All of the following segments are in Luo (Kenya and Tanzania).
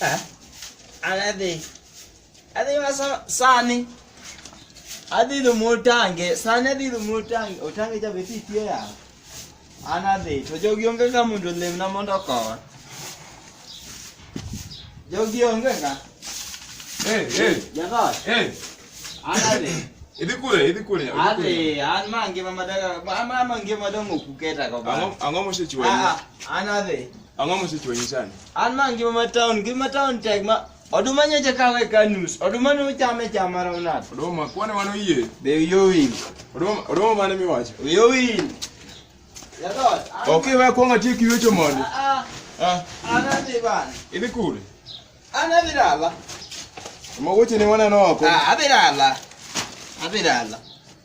Eh? Adhi. Adhi ma sani. Adhi dhi motange, sani adhi dhi motange, otange cha beti tie ya. An adhi, to jogi onge ka mondo lemna mondo okowa. Jogi onge ka. Eh, eh. Jaka. Eh. An adhi. Idhi kure, idhi kure. Adhi, an ma ngima madaka, ma ma ngima dongo kuketa ko ba. Ang'o ang'o mosechiwa? Ah, an adhi. Ang'o mosechwanyi sani? An ma ngima ma town, ngima ma town tek ma oduma nyocha kawe ka nus. Oduma ne uchame chama rawnat. Oduma kwane mano yie. Be uyowil. Oduma oduma mane miwacho? Uyowil. Yadot. Okay, wewe kwanga tie kiwecho mondo. Ah. Ah. Ana ni bana. Ili kule. Ana bilala. Mwagoche ni mwana noko. Ah, abilala. Abilala.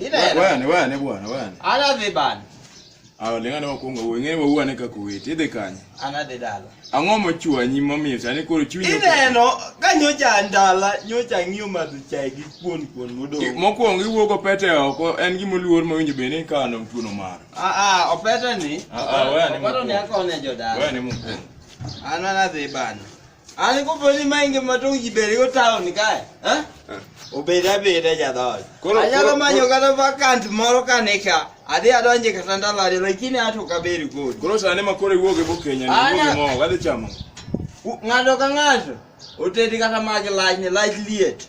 Ina hela. Wane wane bwana wane. Ana dhi bana. Awo lenga na wakuonga uwe ng'e wa uwane kaka uwete idhi kanye. Ana dhi dala. Ang'o mochwanyi momiyo sani koro chunyi. Ineno ka nyocha ndala nyocha ng'iyo madho chai gi kuon kuon modong'. Mokuongo iwuok opete oko en gima oluor ma winjo bene ka an tuono mar. Ah ah opete ni. Ah ah wane. Opete ni akone jodala. Wane mokuongo. Ana na dhi bana. Ani ko boni mainge matong jiberi go town kae. Eh? Obeda beda jadol. Koro anyalo manyo kata vacant moro kane ka. Adhi adonje kata ndalo ariyo lakini ato kaberi go. Koro sane ma kore wuoge bo Kenya ni wuoge mo wadhi chamo. Ng'ato ka ng'ato otedi kata magi lach ni lach liet.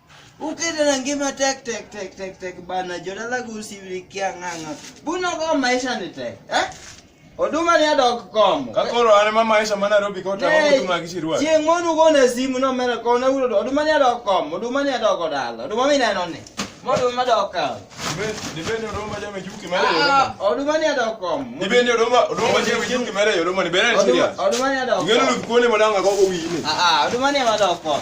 Ukete na ngima tek tek tek tek tek bana jodala go usirikia ng'ang'a. Buno go maisha ni tek. Eh? Oduma ni adok komo. Ka koro an ma maisha ma Nairobi kota ma oduma gi chirwa. Chieng' monu go na simu no mera ko na ulo oduma ni adok komo. Oduma ni adok odala. Oduma mi neno ni. Modu ma dok kawo. Dibende oduma jame juki mare ah, yoroma. Oduma ni adok komo. Dibende oduma oduma jame juki mare yoroma ni bere ni siria. Oduma ni adok. Ngeno lu kuone madanga go go wini. Ah ah oduma ni adok komo.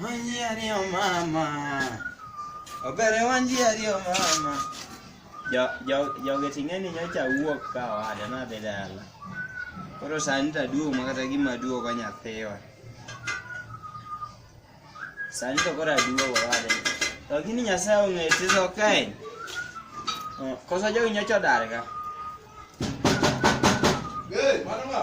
Wanji ariyo mama. Obere wanji ariyo mama. Jo jo joge ting'e ni nyocha wuok ka owada nadhi dala. Koro sani to aduogo ma kata gima aduogo nyathiwa. Sani to koro aduogo owada. To gini Nyasaye ong'eyo tizo kae. Oh, Koso jogi nyocha odarga. Hey, mano ng'a?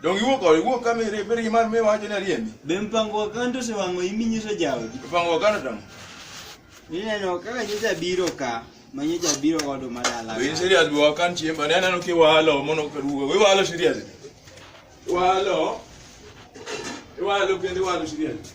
Donge iwuok kode, iwuok ka mere- mere gima miwacho ni ariembi. Be mpango wa kando osewang'o imi nyiso jaodi? Ipango wakano tamo. Ineno kaka nyocha biro ka, ma nyocha biro godo ma dala. Be in serious be wakan chiemb, ane aneno ki walo mono kaduogo. We walo serious. Walo. Iwalo kendo iwalo serious.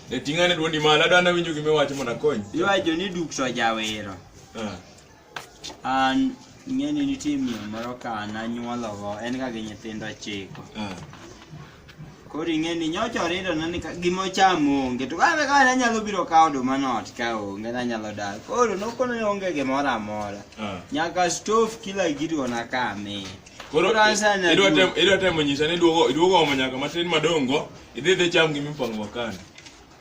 E ting'ane dwondi malo, adwa nawinjo gima iwacho mondo akony. Iwacho ni duk to jawero. Ah. An ing'e ni nitie miyo moro ka nanyuologo, en ga gi nyithindo ochiko. Ah. Koro ing'e ni nyocha oridona ni ka- gima ochamo onge, to kane kane anyalo biro kawo oduma no ot ka onge, nanyalo dar. Koro nokona ni onge gimoro amora. Ah. Nyaka stove kila gidi ona ka amin. Koro Koro an sani idwa aduong'. temo idwa temo nyisa ni iduogo iduogo omo nyaka matin madongo Idhi idhi cham gima ipango makani.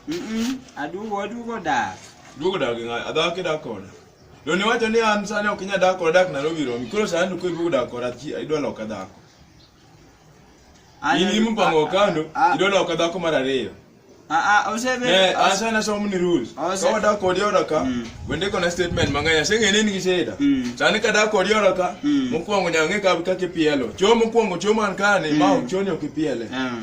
Mm-mm, aduogo aduogo dak. Duogo dak gi ng'a- adhaki dak koda. Don iwacho ni an sani ok inyal dak koda dak Nairobi romi. Koro sani to kiduogo dak koda chi- idwa loka dhako. An- In gima ipango kando, Ah, idwa loka dhako mar ariyo. ah, ah, osebe- Eh, an sani asomo ni rules. Ah, Ka se- wadak kodi oda ka, Mm. wende kona statement mang'eny. Aseng'e ni in gi shida. Mm. Sani ka dak kodi oda ka, Mm. mokwongo nyaka ng'e ka- kaka ipielo. Choo mokwongo, choo man kani, ma Mm. ok choo ni ok ipiele. Ah.